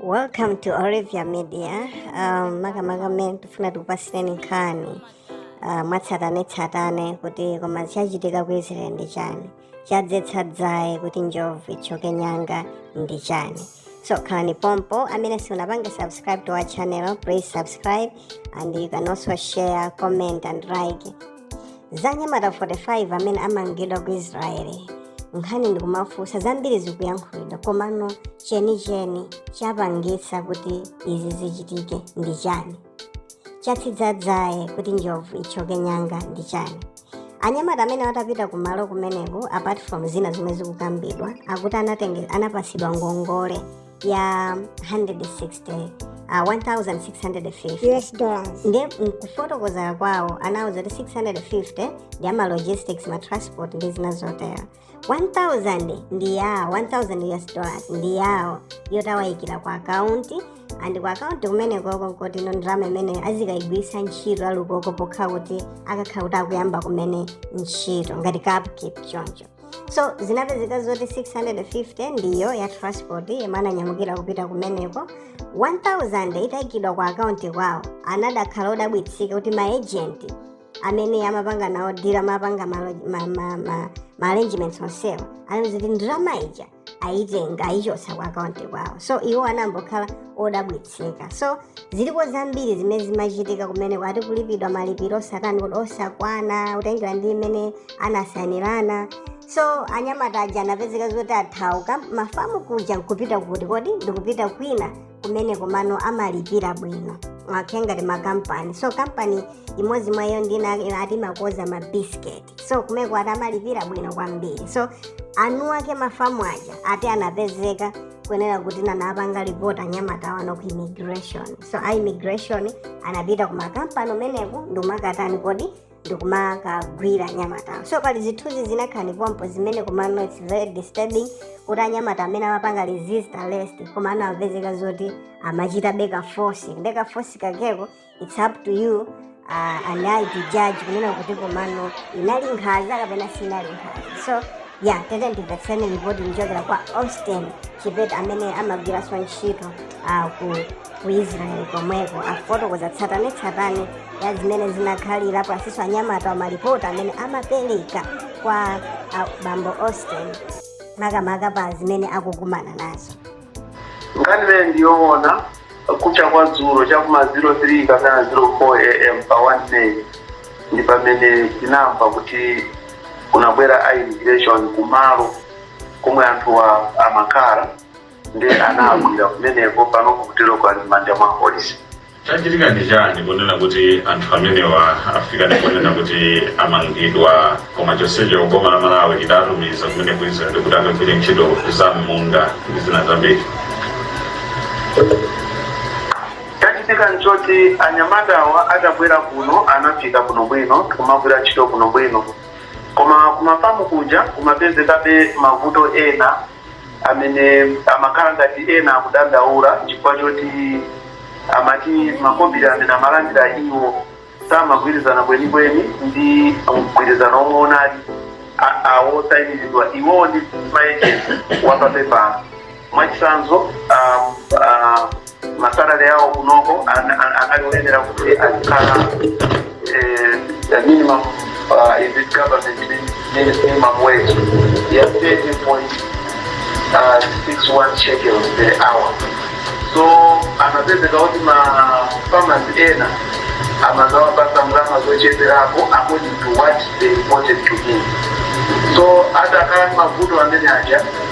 welcome to olivia media um, makamaka mmene tifuna tikupasireni nkhani uh, mwatsatanetsatane kuti koma chachitika ku israel ndi chani chatsitsa dzaye kuti njovu ithyoke nyanga ndi chani so khalani pompo amene simunapange subscribe to our channel please subscribe and you can also share comment and like za anyamata 45 amene amangidwa ku israeli nkhani ndikuonetsetsa zambiri zikuyankhulidwa komano chenicheni chapangitsa kuti izi zichitike ndi chani chatsitsa dzaye kuti njovu ithyoke nyanga ndi chani anyamata amenewa atapita kumalo kumeneko apart from zina zomwe zikukambidwa akuti anatenge- anapatsidwa ngongole ya 160 uh, 1650 US dollars. nde mkufotokoza kwawo anauzidwa kuti 650 ndi ya ma logistics ma transport ndi zina zotero 1000 ndi yawo 1000 us dollars ndi yawo yoti awayikira ku akaunti and ku akaunti kumenekoko nkuti ndalama imeneyo azikayigwiritsa ntchito ali koko pokhala kuti akakhala kuti akuyamba kumene ntchito ngati ka upkeep choncho so zinapezeka zoti 650 ndiyo ya transport yomwe ananyamukira kupita kumeneko 1000 itayikidwa ku akaunti kwawo anadzakhala odabwitsika kuti maejenti amene amapanga nawo deal amapanga ma, ma, ma, ma, ma arrangements onsewa anawauza zoti ndalama ija ayitenga ayichotsa ku akaunti kwawo so iwo anangokhala odabwitsika so ziliko zambiri zimene zimachitika kumeneko ati kulipidwa malipiro osatani kodi osakwana kutengera ndi mmene anasainirana so anyamata aja anapezeka zoti athawa ku mafamu kuja ndikupita kuti kodi ndikupita kwina kumeneko amene amalipira bwino makamaka ngati makampani so kampani imodzi mwa iyo ndiya ati amakonza ma biscuit so kumeneko ati amalipira bwino kwambiri so eni ake mafamu aja ati anapezeka kunena kuti anawapanga report anyamatawa ku immigration so a immigration anapita ku makampani kumeneko ndikumakatani kodi ndikumakagwira anyamata so pali zithunzi zina khalani pompo zimene komano its very disturbing kuti anyamata amenewa amapanga resist arrest koma anapezeka zoti amachitabe ka force ka force kakeko its up to you and I to judge kunena kuti komano inali nkhanza kapena sinali nkhanza so yeah tiyeni timvetsere ripoti kuchokera kwa austin chipeta amene amagwiranso ntchito uh, ku ku israeli komweko afotokoza tsatanetsatane ya zimene zinakhalira komanso anyamatawa malipoti amene amapereka kwa a, bambo austin makamaka pa zimene akukumana nazo nkhani imeneyi ndiyoona kucha kwa dzulo chakuma 03 kapena 04 am pa 1 may ndi pamene tinamva kuti kunabwera a immigration kumalo komwe anthuwa amakhala ndiye anagwira kumeneko pano kukuteroko ali m'manja mwa apolisi chachitika ndi chiyani kunena kuti anthu amenewa afika ndi kunena kuti amangidwa koma chonsecho boma la malawi lidatumiza kumene ku israel kuti akagwire ntchito za m'munda ndi zina zambiri chachitika nchoti anyamatawa atabwera kuno anafika kuno bwino kumagwira ntchito kuno bwino koma kumafamu kuja kumapezekabe mavuto ena amene amakhala ngati ena akudandaula chifukwa choti amati makobiri amene amalandira iwo samagwirizana kwenikweni ndi mgwirizano omwe unali awosainiridwa iwowo ndi maejenti wapapepala mwachitsanzo um, uh, masalale awo kunoko anali oyenera kuti azikhala eh, the minimum uh, is it government minimum wage ya 30.61 shekels per hour so anapezeka kuti ma farmers ena amazawapasa ndalama zocheperapo according to what they wanted to give so atakhala ndi mavuto amene aja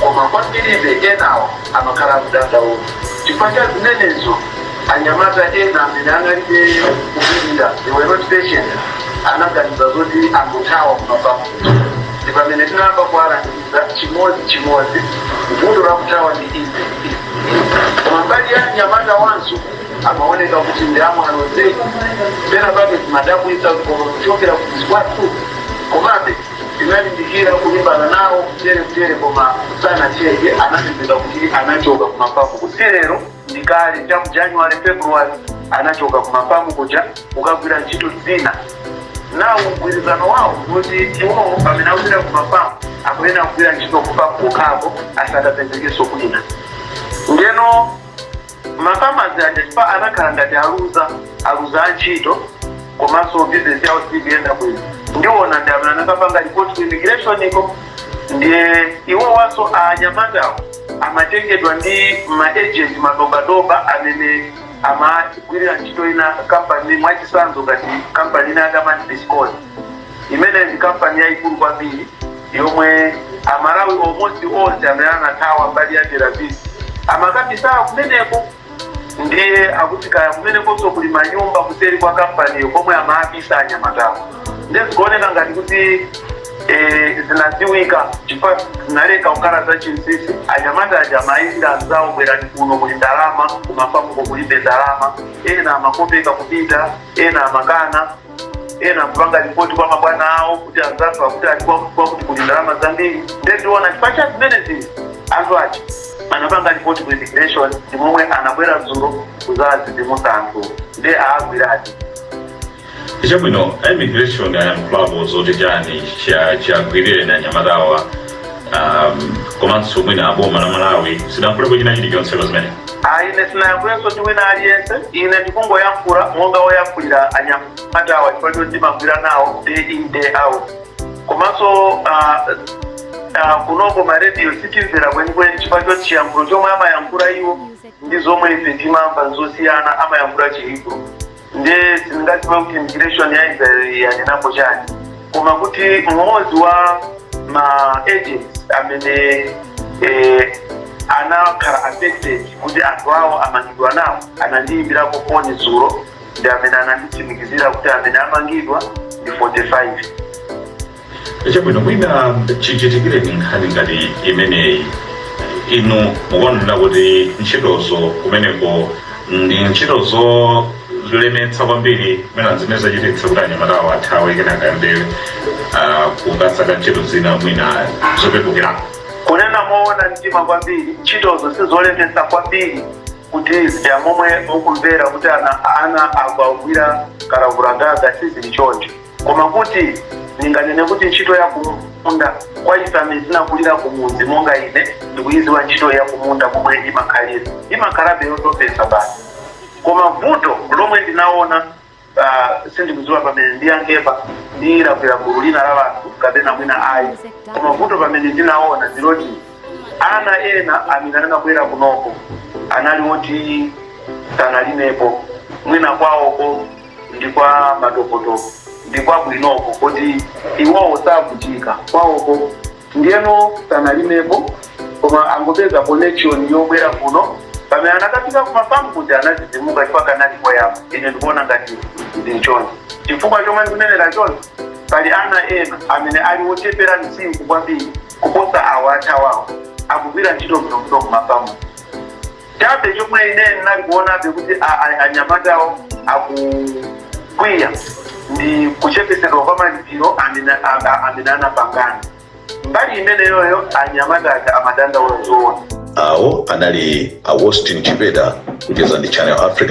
koma kwambiribe, enawo amakhala akudandaula chifukwa cha zimenezo. Anyamata ena amene analibe kupirira, they were not patient, anaganiza zoti angothawa ku mafamu kuja. Ndi pamene tinayamba kuwalangiza chimodzi chimodzi, vuto la kuthawa ndi izi, izi, izi. Koma mbali ya anyamatawanso amaoneka kuti ndi amwano zedi. Pena pake zimadabwitsa, koma kuchokera ku mudzi kwathu. Komabe. Tinalimbikira kulimbana nawo mchere mchere koma sanachedwe anapezeka kuti anachoka ku mafamuko si lero ndi kale cha mu January, February anachoka ku mafamu kuja kukagwira ntchito zina. Nawo mgwirizano wawo ndi woti iwowo pamene akupita ku mafamu akuyenera kugwira ntchito ku famu kokhako asapezekenso kwina. Ndiyeno Mafamazi aja chifukwa anakhala ngati aluza aluza antchito komanso bizinesi yawo sikuyenda bwino ndiona ndi amene anakapanga ripoti ku immigrationiko ndiye iwowanso anyamatawo amatengedwa ndi maagent madobadoba amene amagwirira ntchito ina kampani mwachitsanzo ngati kampani ina ya diamond biscot imeneyo ndi kampani yayikulu kwambiri yomwe amalawi almost onse amene anathawa mbali ya Tel Aviv amakabisidwa kumeneko ndiye akuti kaya kumenekonso kuli manyumba kuseri kwa kampaniyo komwe amaabisa anyamatawo ndiye zikuoneka ngati kuti eh, zinadziwika chifukwa zinaleka kukhala za chinsisi anyamata aja amaitana anzawo bwerani kuno kuli ndalama kumafamuko kulibe ndalama ena amakopeka kupita ena amakana ena kupanga ripoti kwa mabwana awo kuti anzathu akuti ali kuwa kuti kuli ndalama zambiri nde tiona chifukwa cha zimenezi anthu aja anapanga ripoti ku immigration ndi momwe anabwera dzulo kuzazidzimutsa anthu nde awagwiratu chabwino a immigration ayankhulapo zoti chani chiwagwirireni nyamatawa um, komanso mwina boma la malawi silinayankhulepo china chilichonse pa zimene Ah, ine sinayankhulenso ndi wina aliyense ine ndikungoyankhula monga woyankhulira anyamatawa chifukwa choti ndimagwira nawo day in day out komanso ah, ah, kunoko marediyo sitimvera kwenikweni chifukwa choti chiyankhulo chomwe amayankhula iwo ndi zomwe ife timamva nzosiyana amayankhula Chihebri nde sindingadziwe kuti immigration ya israel yanenapo chani koma kuti mmodzi wa ma agents amene eh, anakhala affected kuti anthu awo amangidwa nawo anandiyimbirako foni dzulo ndi amene ananditsimikizira kuti amene amangidwa ndi 45 chabwino mwina chichitikireni nkhani ngati imeneyi inu mukuonera kuti ntchitozo kumeneko ndi ntchito zolemetsa kwambiri mwina zimene zachititsa kuti anyamatawo athawe kenaka ayambe ah, kukasaka ntchito zina mwina zopepukirako kunena moona mtima kwambiri ntchitozo sizolemetsa kwambiri kuti zija momwe mukumvera kuti ana akugwira kalavulagaga sizili choncho koma kuti ndinganene kuti ntchito ya kumunda kwa ife amene tinakulira kumudzi monga ine ndikuyidziwa ntchito ya kumunda momwe imakhalira imakhalabe yotopetsa basi koma vuto lomwe ndinaona uh, sindikudziwa pamene ndiyankhepa ndilakwira gulu lina la anthu kapena mwina ayi koma vuto pamene ndinaona ndiloti ana ena amene anabwera kunoko anali oti sanalimepo mwina kwawoko ndi kwa madokotala ndi kwabwinoko kuti iwowo savutika kwawoko ndiyeno sanalimepo koma angopeza connection yobwera kuno pamene anakafika kumafamu kuti anadzidzimuka chifukwa kanali koyamba ine ndikuona ngati ndi choncho chifukwa chomwe ndikunenera choncho pali ana ena amene ali wochepera msinkhu kwambiri kuposa awo athawawo akugwira ntchito bwinobwino kumafamu chabe chomwe ine ndinali kuonabe kuti a- a- anyamatawo akukwiya ndi kuchepetsedwa kwa malipiro amene a- a- amene anapangana mbali imeneyoyo anyamata aja amadandaula zoona awo anali a Austin Chipeta kucheza ndi Channel Africa